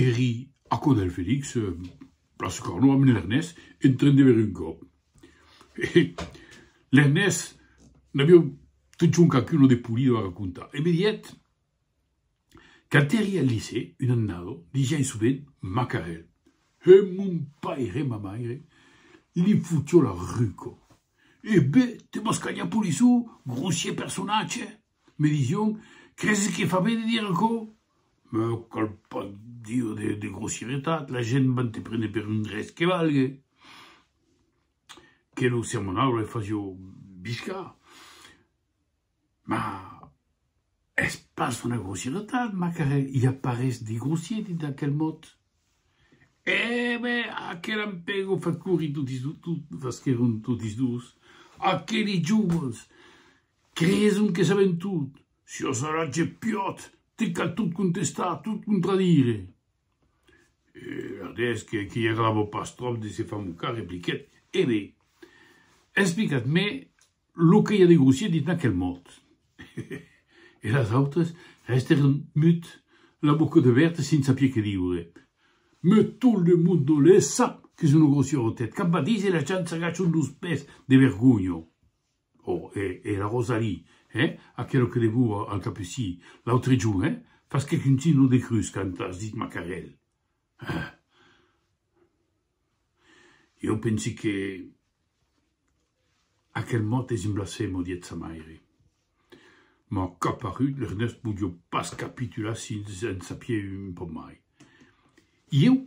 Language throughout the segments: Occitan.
Eri a cò del Felix, plaça Carnot, amb l'Ernés, en tren de veir un còp. E l'Ernés n'aviá totjorn quauqu'una de polida a racontar e me diguet quand eri al licèu, un annada, ligiái sovent Macarèl. E mon paire e ma maire li fotió la rucor. E ben, te vas calhar, polissó, grossier personatge! Me dision, Creses que fa ben de dire aquò? Me cal pas dire de, de grossieretat, la gent van te prene per un res que valgue, que lo sermonaule fasio biscar. Ma es pas una grossieretat, Macarel, i a pas res de grossier dins aquel mot. Eh ben, aquel ampego fa corir totis, tot, tot, fasqueron totis dos, aqueli joves! Creson que saben tot, siò saratge piòt te cal tot contestar, tot contradire. E Erdés que qu'i agrava pas tròp de se far mocar repliquèt, E be, explicat me lo que i a de grossier dins aquel mot. E las autres restèron mut, la boca debèrta sens sapier que diure. Me tot le monde le sap que son lo grossier Rotet, cap badís e las gents s'agachan dos pès de vergonha. O e e la Rosalie, hè? Aquelo que legou al Capucí, l'autre jorn, hè? Fas que contin lo decrús quand as dit macarèl. Heh! Ieu pensi que aquel mot es un blasfemo, did't sa maire. M'an caparut, l'Ernèst podió pas capitular s'il en sapieu un pauc mai. Ieu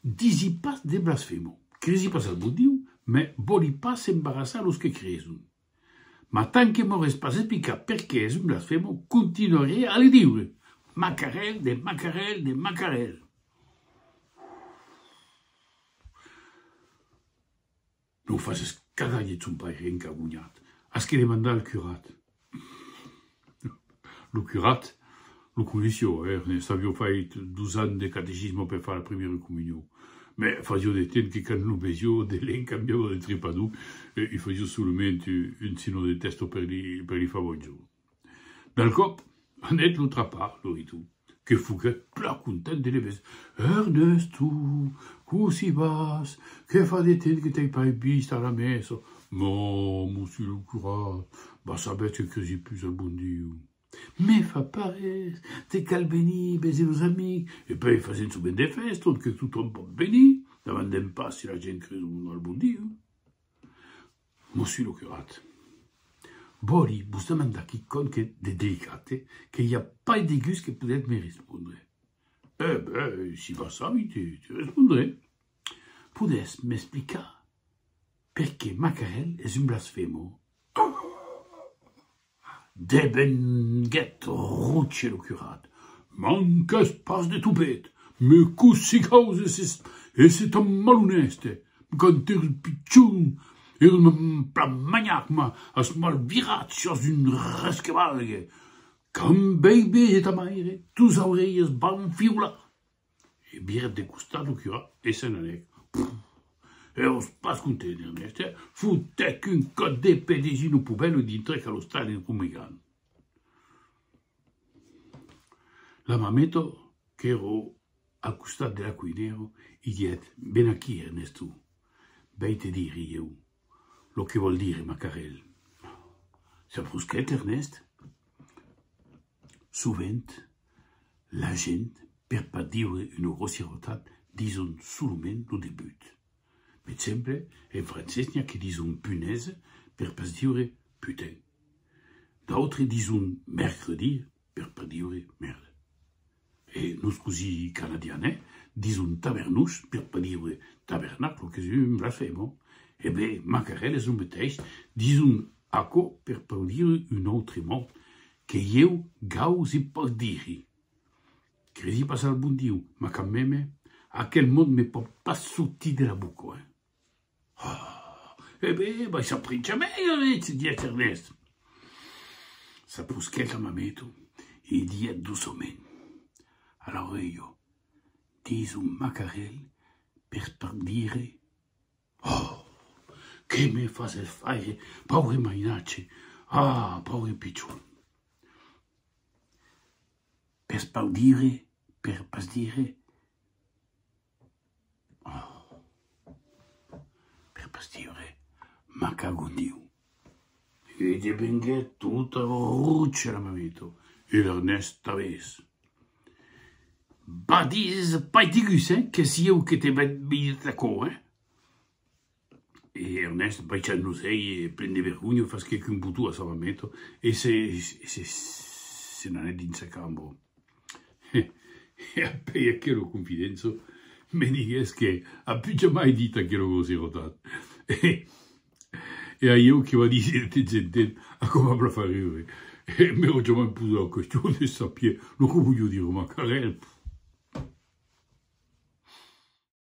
Disi pas de blasfemo. Cresi pas al bon Diu, mès vòli pas embarassar los que creson. Mas tant que m'aurès pas explicat perqué es un blasfemo, continuarè a li diure, Macarel de Macarel de Macarel! Non faces cagar, didec son paire encagonhat, as que demandar al curat. Lo curat lo coneishió, ernest, avió fait dos ans de catecismo per far la primièra comunió, mès fasió de temps que quand lo vesió de lent cambiava de tripador e i fasió solament un sinó de testo per li far bonjorn. Del còp, anèt lo trapar Loritu, que foguèt plan content de le veser. Ernesto, cossí vas? Que fa de temps que t'ai pas vist a la mesa! Mòu, monsieur lo curà, vas sabèt que cresi pus al bon Diu. Me fa pas res, te cal venir veser los amics, e puèi fasèm sovent de fèston que totòm pòt venir, davant d'en pas si la gent creson o non al bon Diu. Mossu lo curat. Vòli vos demandar quicònh de delicat que i a pas de gust que podètz me respondre. Eh ben, si vas sabi, te respondrè. Podètz m'explicar perqué Macarèl es un blasfemo? Devenguèt rotier lo curat. Manques pas de topet, me cossí causes e se tan malonèste, quand er pichon er un plamanhac ma as mal virat siás un resquebalgue, quand veibes e ta maire tos aureilhas van fiolar. E virèt de costat lo curà e se n'anèc. Pff! Eros pas content, Ernèst, e fotèc un còp de pè dins un opobèlo e dintrèc a l'ostali rumegant. La mameta, qu'èra al costat de la cuinèra, i didèt, Ven aquí, Ernèsto, vèi te dire ieu lo que vòl dire Macarèl. S'embrusquèt Ernèst. Sovent, la gent, per pas dire una grossièrotat, dison solament lo debut. Per exemple, en francés n'i a que dison punaise per pas dire putain. D'autres dison mercredi per pas dire merda. E nos cosí canadiane dison tavernós per pas dire tabernaclo qu'es un blasfemo. E ben, macarel es lo meteis, dison aquò per pas dire un autre mot que ieu gausi pas dire. Credi pas al bon Diu, ma quand meme, aquel mot me pòt pas sortir de la boca. Oh! E ben, vai s'aprincha mei aretz, didec Ernest. S'aprusquèc a Mameto e li didec doçament a l'aurelha, dins un macarelh per tot dire, Oh! Que me fases faire, paure mainatge! Ah! Paure pichon! Pes pas dire, per pas dire, Per pas dire m'ac cagotiu. E devenguèt tota rocha la mameta. E l'Ernèst aves. Badis, pas digus, hein, qu'es ieu que t'ai badit aquò, hein. E Ernèst baissant los uelhs e plen de vergonha fasquèc un botó a sa mameta e se se se n'anèt dins sa cambra. E apèi aquela confidença me diguès que a pus jamai dit aquela grosserotat e e aíeu que va díser de temps en temps a com a blafar riure e m'èra jamai posat la question de sapier lo que volió dire ma carèr.